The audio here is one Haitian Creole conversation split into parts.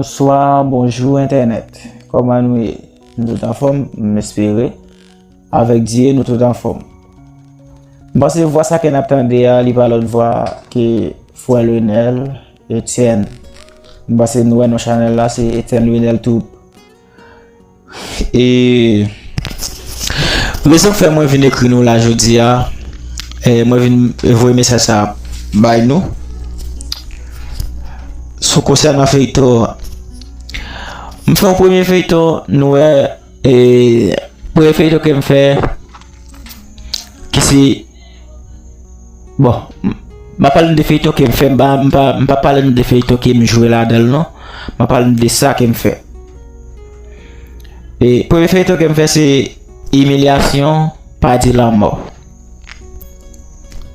Bonswa, bonjou entènèt, kòman nou ye? Nou tout anfòm, m espere, avèk Dye nou tout anfòm. M panse vwa sa ke n ap tande a, li pa lòt vwa ke Frè Lionel Etienne. M panse nou wè non chanèl la, se Etienne Lionel Troupe. E rezon k fè mwen vin ekri nou la jodi a, mwen vin voye mesaj sa bay nou sou konsènan feyton an. M fè yon premye feyton, nou wè, e premye feyton ke m fè ki se Bon, m ap pale nou de feyton ke m fè, m pa pale nou de feyton ke m jwe ladan l non. M ap pale nou de sa ke m fè. E, premye feyton ke m fè se imilyasyon pa di lanmò.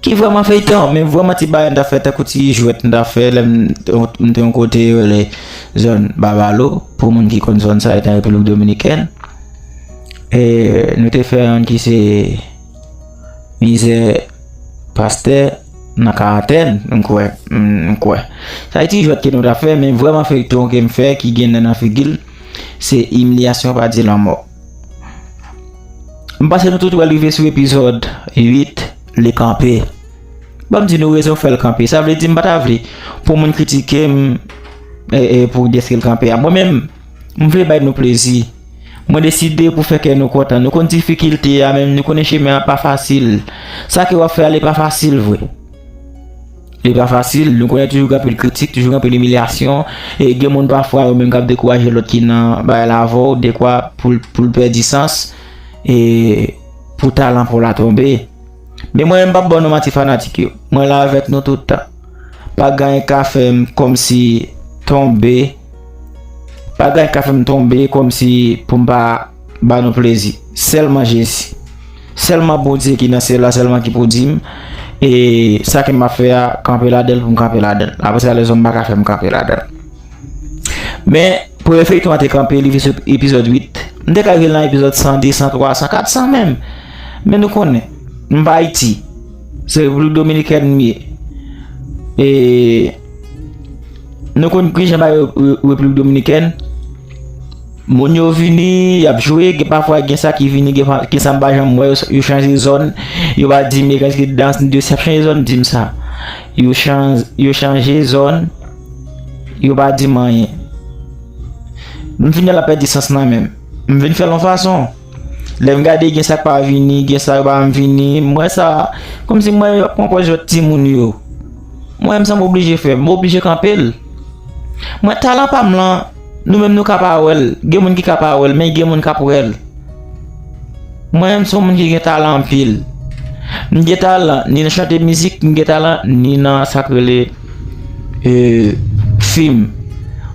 Ki vreman feyton, men vreman ti bagay m ta fè tankou ti jwèt m ta fè lè m te yon kote yo rele zòn Babalo, pou moun ki konn zòn sa e nan Repiblik Dominikèn. E, nou te fè yon ki se Mizè pastè nan karantèn m kwè m kwè. Sa se ti jwèt ke nou ta fè men vrèman feyton ke m fè ki gen nen nan figi l se imilyasyon pa di lanmò. M panse nou tout wè l rive sou epizòd 8 li kanpe. Ban m di nou rezon fè l kanpe. Sa vle di m pa ta vle pou moun kritike m pou deske l kanpe a. Mwen menm. M vle bay nou plezi. Mwen deside pou fè kè nou kontan. Nou konn difikilte a men nou konnen chemen an pa fasil. Sa ke w ap fè a li pa fasil vre. Li pa fasil. Nou konnen toujou gen anpil kritik, toujou gen anpil imilyasyon. E gen moun pafwa yo menm k ap dekouraje lòt ki nan bagay la avè w dekwa pou l pèdi sans e pou talan pa w la tonbe. Men mwen menm pap banou manti fanatik yo mwen la avèk nou tout tan pa gayen ka fèm kòmsi tonbe pa gayen ka fèm tonbe kòmsi poum pa banou plezi sèlman jezi sèlman bondye ki nan syèl la sèlman ki pou dim e sa ke map fè a kanpe ladanl poum kanpe ladanl apresa lèzòm paka fèm kanpe ladanl. Men, premye feyton an te kanpe, li vin sou epizòd 8. M te ka rive nan epizòd 100, 200, 300, 400 menm. Men nou konnen, m pa Ayiti. Se Repiblik Dominikèn m ye. E, nou konnen ki jan bagay yo Repiblik Dominikèn. Moun yo vini, y ap jwe, gen pafwa gen sa ki vini, gen sa m pa janm wè, yo chanje zòn. Yo va di m, e, kèlke dans, yo chanje zòn, yo chanje zòn. Yo pa di m anyen. M fin wè l ap pèdi sans nan men m. M vin fè l yon fason. Lè m gade gen sa k pa vini, gen sa yo pa janm vini, m wè sa kòmsi m wè yo ap pran pòz jwèt timoun yo. M wè m sa m oblije fè, m oblije kanpe l. Mwen talan pa m lan. Nou menm nou ka pa wèl, gen moun ki ka pa wèl men gen moun kap wèl. Mwen menm son moun ki gen talan anpil. M gen talan ni nan chante mizik, m gen talan ni nan sak rele fim.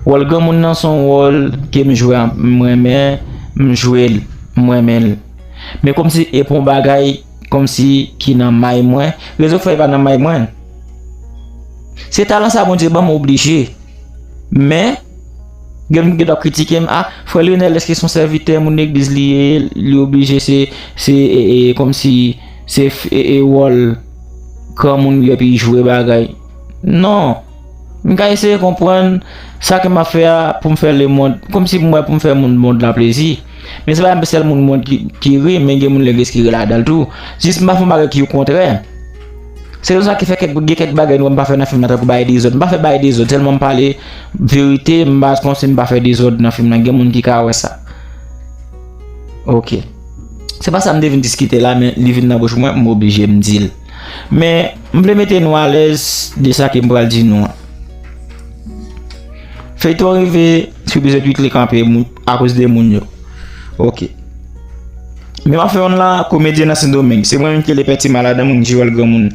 Wòl granmoun nan son wòl ke m jwe m renmen, m jwel, m renmenl. Men kòmsi e pa yon bagay. Komsi ki nan may mwen. Rezo fèy pa nan may mwen. Se talan sa Bondye banm m oblije. Men, gen moun ki ta kritike m, ah, frè Lionel eske son sèvitè moun legliz li ye, li oblije se, se, e, e, komsi, se, e, e, wòl, granmoun li epi jwe bagay. Non! M ka eseye konprann sa ke m ap fè a pou m fè lemond, kòmsi pou m wè pou m fè moun mond lan plezi. Men se pa menm sèl moun mond ki ri, men gen moun legliz ki ri ladan l tou. Jis m pa fè yon bagay ki yon kontrè. Se konsa ki fè kèk gen kèk bagay nou wè m pa fè nan fim nan tankou bay dezòd. M pa fè bay dezòd, sèlman m pale verite, m pa kòmsi m pa fè dezòd nan fim nan. Gen moun ki ka wè sa. Ok. Se pa sa m te vin diskite la men li vin nan bouch mwen, m oblije m di l. Men, m vle mete nou alèz de sa ke m pral di nou an. Feyton an rive sou epizòd 8 li kanpe akoz de moun yo. Ok. Men map fè yon la komedyen nan Sendomeng. Se mwen menm ki lepè ti maladan mwen ki jwèl granmoun.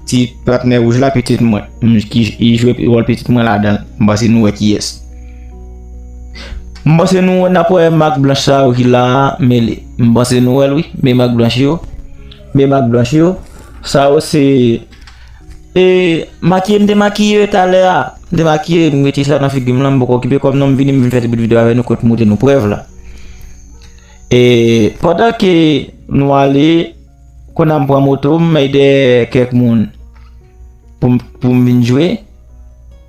Ti patnè wouj la pitit mwen. Mwen ki jwè wòl pitit mwen ladan. M panse nou wè ki yès. M panse nou wè nap wè mak blanch sa yo ki la mele. M panse nou wèl wi. Men mak blanch yo. Men mak blanch yo, sa yo se e makiye m te makiye yo talè a, m te makiye m mete sa nan figi m lan m poko okipe kò m non m vini m vin fè ti bout videyo avè nou kote m montre nou prèv la. E pandan ke nou ale konnan m pran moto m mèy dèyè kèk moun pou m vin jwe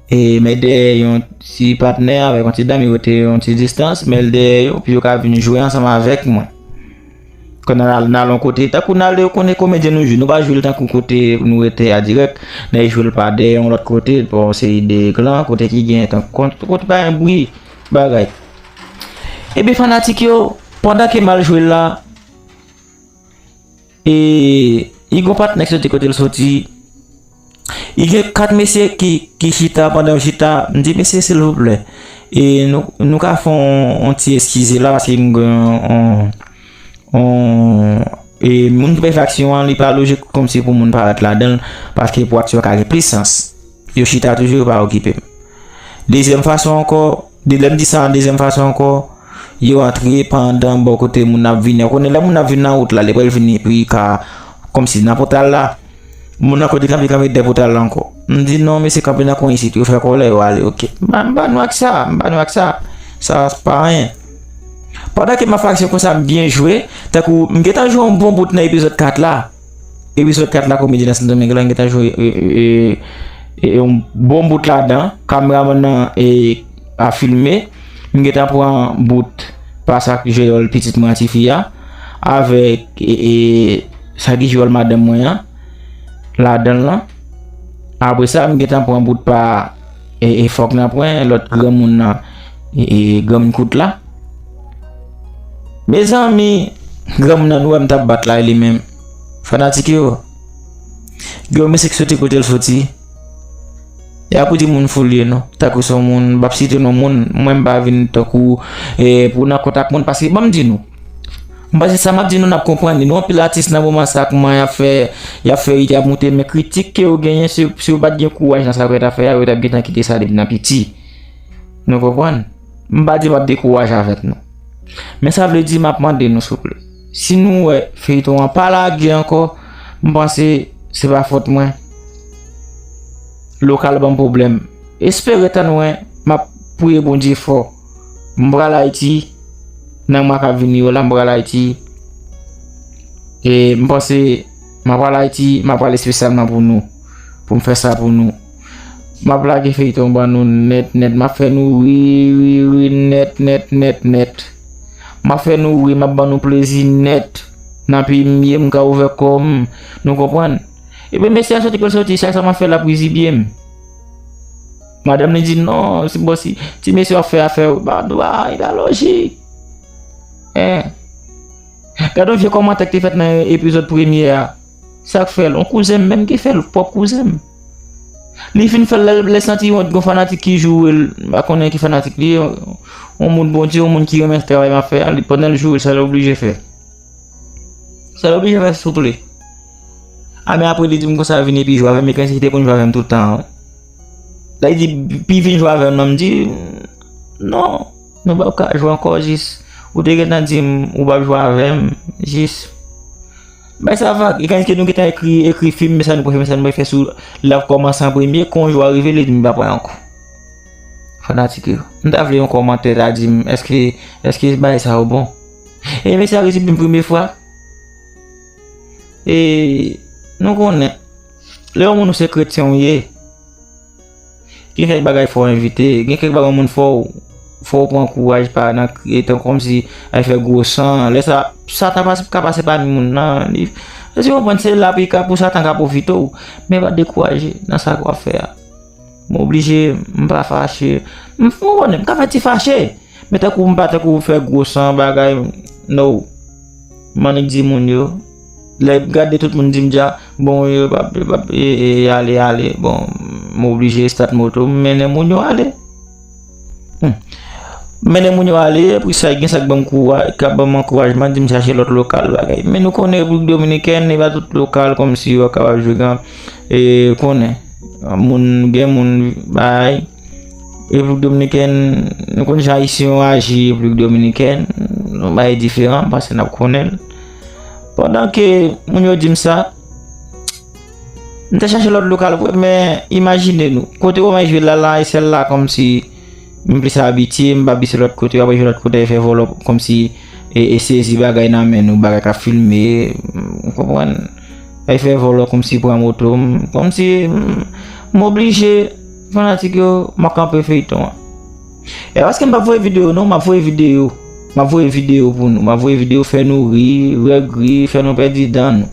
e mèy dèyè yon ti patnè avèk yon ti dam yo te yon ti distans mèy dèyè yo pou yo ka vin jwe ansanm avèk mwen. Kwen nan al nan lon kote tankou nan ale konen komedyen nou jwe nou pa jwe l tankou kote nou rete a dirèk nèg jwe l pa de yon lòt kote pa yon seri de klan kote ki gen tan kont kote pa gen bri bagay epi fanatik yo pandan ke m al jwe l la e li gon patnè k soti kote l soti I gen 4 mesye ki chita, pandan yo chita, m di mesye silvouplè, e nou ka fè yon ti eskize la paske m gen yon e moun ki bay fè aksyon an li pa lojik kòmsi pou moun parèt ladan l paske pou aksyon an ka gen plis sans. Yo chita toujou yo pa okipe m. Dezyèm fason ankò. De lè m di sa yon dezyèm fason ankò, yo antre pa andan bò kote moun nan ap vini an. Kounye lè moun nan ap vin nan wout la, li pral vini epi li ka kòmsi nan pòtal la. Moun nan kote kanpe kanpe dè pòtal la ankò. M di non mesye kanpe nan kwen isit, yo fè kòlè yo ale ok. M ba nou ak sa, m ba nou ak sa. Sa pa anyen. Pandan ke m ap fè aksyon konsa m byen jwe, tankou m gentan jwe yon bon bout nan epizòd 4 la. Episode 4 la komedi nan sendomeng lan gentan jwe yon bon bout ladan kameraman nan a filme m gentan pran bout pa sa ki jwe wòl pitit mwen an tifi a avèk sa ki jwe wòl madanm mwen an ladan lan apre sa m gentan pran bout pa fòk nan pran lòt granmoun nan granmoun kout la Mezanmi granmoun nan nou wèm tap bat la e li menm fanatik yo gen yon misik soti kotel soti e apou di moun foul ye nou tankou son moun bap site non moun mwen mpa vin tankou e pou nan kontak moun paske banm di nou mpa se sa map di nou nap konprann li nou anpil atis nan moman sa kouman yap fè yap fè it yap moute men kritik ke yo genyen si yo pat gen kouraj nan sa yo gentan fè a yo tap gentan kite sa depi nan piti nou konprann. M pa di m ap dekouraje avèk nou. Men sa vle di m ap mande nou souple. Si nou wè feyton an pa lage ankò, m panse se pa fòt mwen. Lokal banm pwoblèm. Espere tann mwen, m ap priye Bondye fò. M pral Ayiti nan mwa k ap vini yo la, m pral Ayiti. E m panse m ap al Ayiti, m ap al espesyalman pou nou. Pou m fè sa pou nou. Map lage feyton ban nou nèt nèt map fè nou ri ri ri nèt nèt nèt nèt map fè nou ri map ban nou plezi nèt nan pi mye m ka ouvè kòm nou konprann epi mesye a soti pou l soti chak sa map fè lap rizibye m madanm li di non si bon si ti mesye wap fè afè w ba dwa e pa lojik eh gad yon vye kòmantè ki te fèt nan epizòd premye a sak fèl yon kouzen m menm ki fèl pwòp kouzen m. Li fin fèl lèl lèl santi wont gon fanatik ki jourel pa konnen ki fanatik li ye yon moun Bondye yon moun ki renmen travay map fè a li pandan l jourel sa l oblije fè sa l oblije fè souple a men apre li di m konsa l vin epi jwe avè m li kòmanse kite konn jwe avè m tout tan an lè li di pi vin jwe avè m nan m di non nou pap ka jwe ankò jis ou te gentan di m ou pap jwe avè m jis. Bay sa vag, e kay ke nou gentan ekri, ekri fim, men sa nou pral fè, men sa nou pral fè sou lap kòmanse an premye, kon jou a rive li di m pa pran yon kou. Fanatik yo, m ta vle yon kòmantè ta di m eske, eske bay sa yo bon. E men sa resi pou m premye fwa. E nou konnen, lè yon moun ou se kretyen ou ye. Gen kèk bagay fò w evite. Gen kèk bagay yon moun fò w fò w pran kouraj pa nan etan kòmsi al fè gwo san. Lè sa, satan ka pase pami moun nan. Li fè konprann se la pi ka pou satan ka pwofite w. Men pa dekouraje nan sa w ap fè a. Mwen oblije, m pa fache. M konnen, m ka fè ti fache. Men tankou m pa tankou fè gwo san bagay. No. M annik di moun yo. Lè m gade tout moun di m dja bon yo pa ale ale bon m oblije estat moto m mennen moun yo ale. M mennen moun yo ale epi sa gen sa k ban m kouraj k ap ban m ankourajman di m chache lòt lokal bagay. Men nou konnen Repiblik Dominikèn e pa tout lokal kòmsi yo kapab jwe kan e konnen moun gen moun bay Repiblik Dominikèn nou konnen jan ayisyen yo aji Repiblik Dominikèn nou bay diferan pase n ap konnen l. Pandan ke moun yo dim sa, m te chache lòt lokal vre men imajine nou, kote yo mwen jwe la la e sèl la kòm si m plis abitye, m pa bise lòt kote, yo apre jwe lòt kote yo fè vòlò kòm si e sezi bagay nan men nou, bagay ka filme, ou konprann? Yo fè vòlò kòm si pran moto m, kòm si m oblije fanatik yo m ap kanpe feyton an. E paske m pa voye video non, ma voye video. Ma voye video pou nou. Ma voye video fè nou ri, regri, fè nou pèdi dan nou.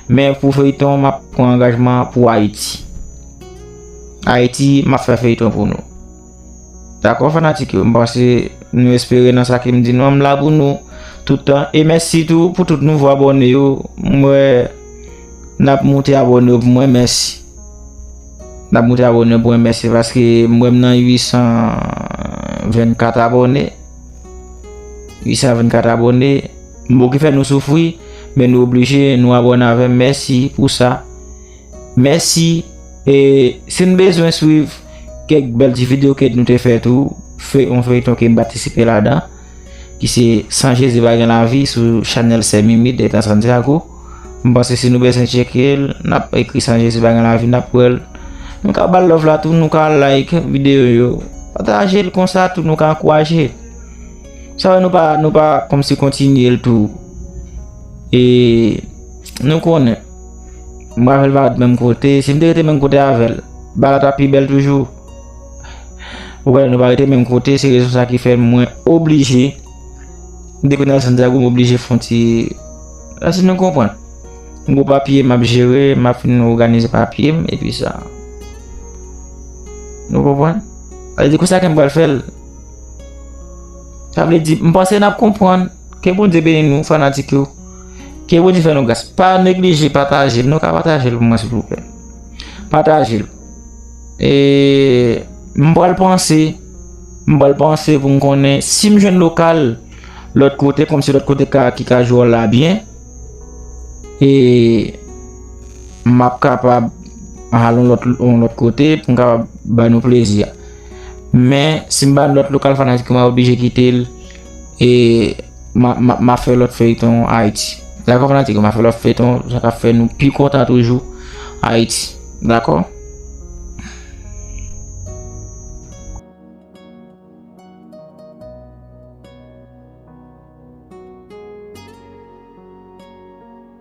Men pou feyton ma pran angajman pou Haiti. Haiti ma fè feyton pou nou. Dakò fanatik yo, m panse nou espere nan sa ke m di nou an, m la pou nou toutan. E mèsi tou pou tout nouvo abone yo, m wè nap moute abone yo pou mwen, mèsi. Nap moute abone pou mwen mèsi paske m wèm nan 824 abone 824 abone m pou ki fè nou soufri men nou oblije nou abone avèm mèsi pou sa mèsi e sin bezwen swiv kèk bèl ti video kèt nou te fè tou fè yon feyton ke m patisipe ladan. Ki se san jezi pa gen lavi sou chanèl sè mimi dèlta santiago m panse si nou bezwen tcheke l nap ekri san jezi pa gen lavi nap wè l nou ka bal love la tou nou ka like videyo yo pataje l konsa tou nou ka ankouraje sa wè nou pa nou pa kòmsi kontinye l tou e nou konnen m pa vle l pa ret menm kote si m te rete menm kote avè l bagay la tap pi bèl toujou. Ou gade nou pa rete menm kote, se rezon sa ki fè mwen oblije depi nan Santiago m oblije fon ti esi nou konprann. M gwo papye m ap jere, m ap fin oganize papye m epi sa. Nou konprann? A di konsa ke m pral fèl. Sa vle di m panse nap konprann. Ke Bondye beni nou fanatik yo. Ke Bondye fè nou gras. Pa neglije pataje l. Nou ka pataje l pou mwen silvouplè. Pataje l. Eee m pral panse, m pral panse pou m konnen si m jwenn lokal lòt kote kòm se lòt kote ka ki ka jwe wòl la byen e m ap kapab al yon lòt yon lòt kote pou m kapab ba nou plezi. Men si m ba nou lòt lokal fanatik yo m ap oblije kite l. E ma fè lòt feyton Haïti. Dakò fanatik yo ma fè lòt feyton sa ka fè nou pi kontan toujou Haïti. Dakò.